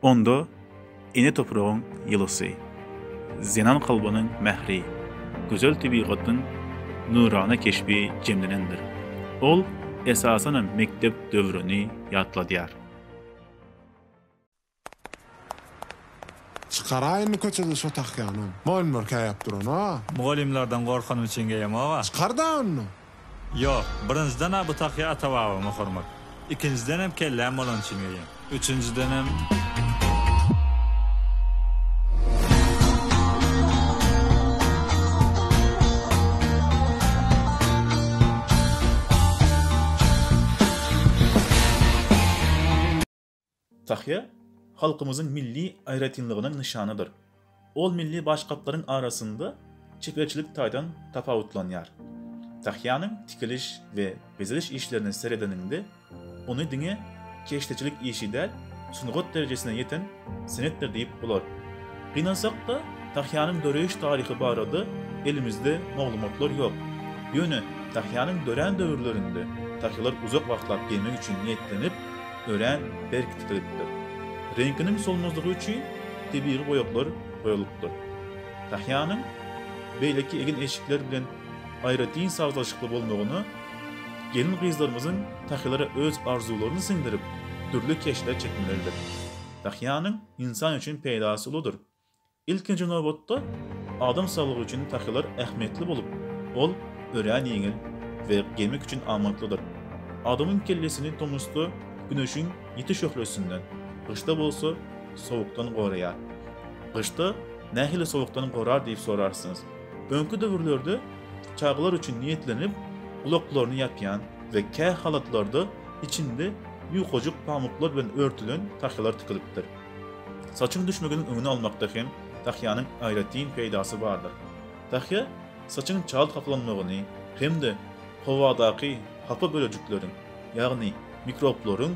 Onda ene topragyň ýylysy, zenan kalbynyň mähri, gözel tebigatyň nurana keşbi jemlenendir. Ol, esasanam, mekdep döwrüni ýatladýar. Çykaraýynmy köçede şo tahýany? Mol-mol käýäp duran-a. Mugallymlardan gorkanym üçin geýemog-a. Çykar-da onda! Ýok, birinjiden-ä bu tahýa ata-babama hormat. Ikinjidenem kelläm bolany üçin geýýän. Üçünjidenem. Tahýa halkymyzyň milli aýratynlygynyň nyşanydyr. Ol milli başgaplaryň arasynda çeperçilik taýdan tapawutlanýar. Tahýanyň tikiliş we bezeliş işlerine seredeniňde, ony diňe keşdeçilik işi däl, sungat derejesine ýeten senetdir diýip bolar. Gynansak-da, tahýanyň döreýiş taryhy barada elimizde maglumatlar ýok. Ýöne tahýanyň dörän döwürlerinde tahýalar uzak wagtlap geýmek üçin niýetlenip, örän berk tikilipdir. Reňkiniň solmazlygy üçin tebigy boýaglar goýulypdyr. Tahýanyň beýleki egin-eşikler bilen aýratyn sazlaşykly bolmagyna gelin-gyzlarymyzyň tahylara öz arzuwlaryny siňdirip, dürli keşpler çekmeleridir. Tahýanyň ynsan üçin peýdasy uludyr. Ilkinji nobatda, adam saglygy üçin tahylar ähmiýetli bolup, ol örän ýeňil we gemik üçin amatlydyr. Adamyň kellesini tomusda güneşiň ýiti şöhlesinden, gyşda bolsa sowukdan goraýar. Gyşda nähili sowukdan gorar diýip sorarsyňyz. Öňki döwürlerde çagalar üçin niýetlenip, gulaklaryny ýapýan we kähalatlarda içinde ýukajyk pamyklar bilen örtülen tahylar tikilipdir. Saçyň düşmeginiň öňüni almakda hem tahýanyň aýratyn peýdasy bardyr. Tahýa saçyň çalt hapalanmagyny hem-de howadaky hapa bölejikleriň, ýagny mikroblaryň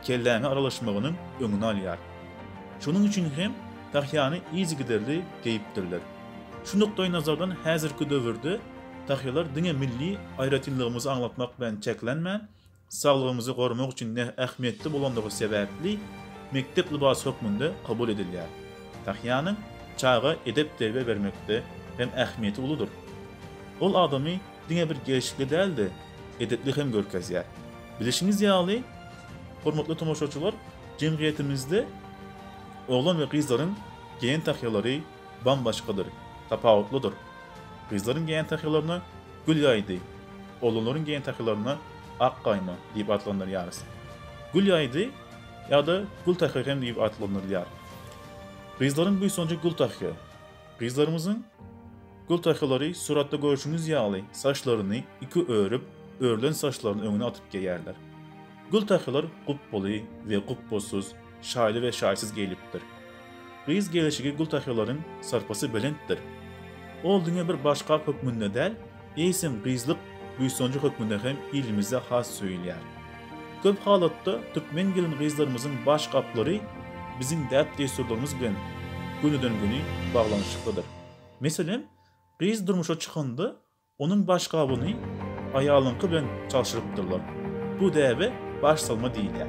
kelläňe aralaşmagynyň öňüni alýar. Şonuň üçin hem tahýany yzygiderli geýipdirler. Şu nukdaýnazardan häzirki döwürde tahýalar diňe milli aýratynlygymyzy aňlatmak bilen çäklenmän, Saglygyňyzy goramak üçin näh ähmiýetli bolandygy sebäpli mekdep lybasy hökmünde kabul edilýär. Tahýanyň çaga edep-terbiýe bermekde hem ähmiýeti uludyr. Ol adamy diňe bir gelşikli däl-de, edepli hem görkezýär. Bilişiňiz ýaly, hormatly tomaşaçylar, jemgyýetimizde oglan we gyzlaryň geýen tahýalary bam-başgadyr, tapawutlydyr. Gyzlaryň geýen tahýalaryna Gül ýaýdy. Olanlaryň geýen tahylaryna ak gaýma diýip atlandyrýarys. Gül ýaýdy ýa-da gül tahy hem diýip atlandyrylýar. Gyzlaryň buýsanjy gül tahy. Gyzlarymyzyň gül tahylary suratda görşüňiz ýaly saçlaryny iki örüp, örülen saçlaryny öňüne atyp geýýärler. Gül tahylar gupbaly we gupbassyz, Şaýly we şaýsyz geýlipdir. Gyz gelşigi gültahylaryň sarpasy belentdir. Ol diňe bir başgap hökmünde däl, eýsem gyzlyk buýsanjy hökmünde hem ilimizde has söýülýär. Köp halatda türkmen gelin-gyzlarymyzyň başgaplary biziň däp-dessurlarymyz bilen gönüden-göni baglanyşyklydyr. Meselem, gyz durmuşa çykanda Onuň baş gabyny aýalyňky bilen çalşyrypdyrlar. Bu däbe baş salma diýilýär.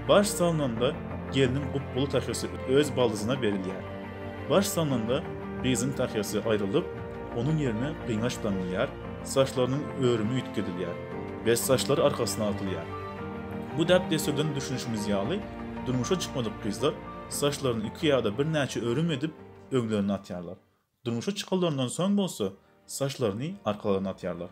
Baş salnanda gelniň gupbaly tahýasy öz baldyzyna berilýär. Baş salnanda gyzyň tahýasy aýrylyp, onuň ýerine gyňaç daňylýar, saçlarynyň örümi üýtgedilýär we saçlary arkasyna atylýar. Bu däp-dessurdan düşünişimiz ýaly, durmuşa çykmadyk gyzlar saçlaryny iki ýa-da birnäçe örüm edip, öňlerine atýarlar. Durmuşa çykanlaryndan soň bolsa, saçlaryny arkalaryna atýarlar.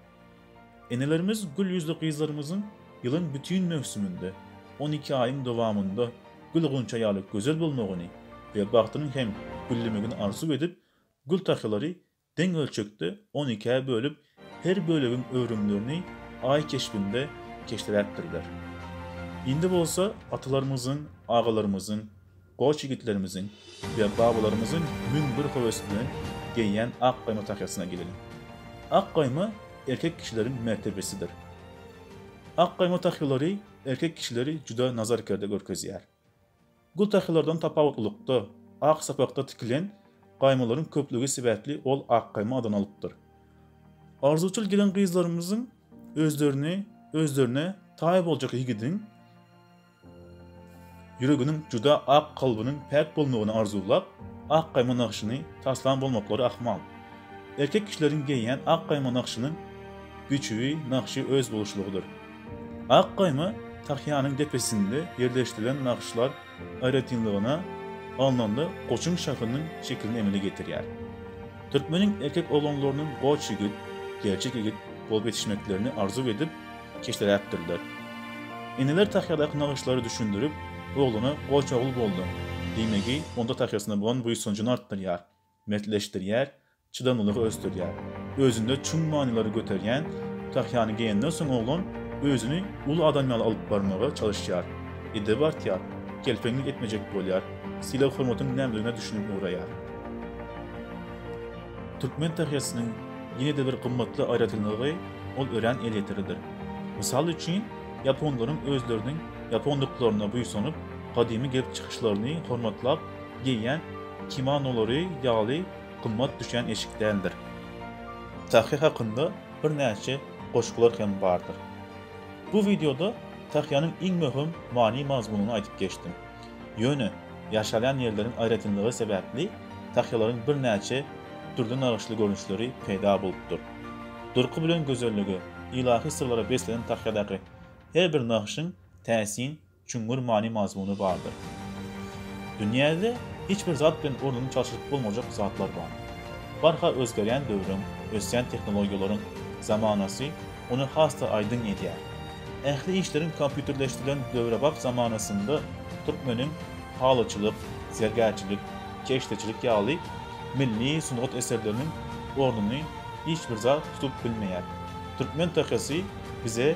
Enelerimiz gül ýüzli gyzlarymyzyň ýylyň bütin möwsüminde, on iki aýyň dowamynda gül-gunça ýaly gözel bolmagyny we bagtynyň hem güllemegini arzuw edip, gül tahlylary deň ölçekde on ikä bölüp, Her bölegiň öwrümlerini Aý keşbinde keşderäpdirler. Indi bolsa atalarymyzyň, agalarymyzyň, goç ýigitlerimiziň we babalarymyzyň müň bir höwes bilen geýýän ak gaýma tahýasyna geleliň. Ak gaýma erkek kişileriň mertebesidir. Ak gaýma tahýalary erkek kişileri juda nazar-kerde görkezýär. Gultakylardan tapawutlylykda, ak sapakda tikilen gaýmalaryň köplügi sebäpli ol Akgaýma adyny alypdyr. Arzuwçyl gelin-gyzlarymyzyň özlerini özlerine taý boljak ýigidiň ýüreginiň juda ak, kalbynyň päk bolmagyny arzuwlap, ak gaýma nagşyny taslan bolmaklary ahmal. Erkek kişileriň geýýän ak gaýma nagşynyň biçüwi, nagşy özboluşlygydyr. Ak gaýma tahýanyň depesinde ýerleşdirilen nagyşlar aýratynlygyna alnanda goçuň şahynyň şekilini emele getirýär. Türkmeniň erkek oglanlarynyň goç ýigit, gerçek ýigit bolup ýetişmeklerini arzuw edip, keşderäkdirler. Eneler tahýadaky nagyşlary düşündirip, oglana Goç ogul bolduň! diýmegi onda tahýasyna bolan buýsanjyny artdyrýar. mertleşdirýär, çydamlylygy ösdürýär. Özünde çuň manylary göterýän Tahýany geýenden soň oglan özüni uly adam ýaly alyp barmaga çalyşýar. Edebi artýar, kelpeňlik etmejek bolýar, sylag-hormatyň nämedigine düşünip ugraýar. Türkmen Tahýasynyň ýene-de bir gymmatly aýratynlygy ol örän elýeterlidir. Mysal üçin, ýaponlaryň özleriniň ýaponlyklaryna buýsanyp, gadymy gelip çykyşlaryny hormatlap, geýýän kimonolary ýaly gymmat düşýän eşik däldir. Tahýa hakynda birnäçe goşgular hem bardyr. Bu wideoda tahýanyň iň möhüm many-mazmunyny aýdyp geçdim. Ýöne, ýaşalýan ýerleriň aýratynlygy sebäpli tahýalaryň birnäçe dürli nagyşly görnüşleri peýda bolupdyr. Durky bilen gözellige, ylahy syrlara beslenen tahýadaky her bir nagşyň täsin çuňňur many-mazmuny bardyr. Dünýäde hiç bir zat bilen ornuny çalşyryp bolmajak zatlar bar. Barha özgerýän döwrüň, ösýän tehnologiýalaryň zamanasy ony has-da aýdyň edýär. Ähli işleriň kompýuterleşdirilen döwrebap zamanasynda türkmeniň halyçylyk, zergärçilik, keşdeçilik ýaly milli sungat eserleriniň ornuny hiç bir zat tutup bilmeýär. Türkmen takasy bize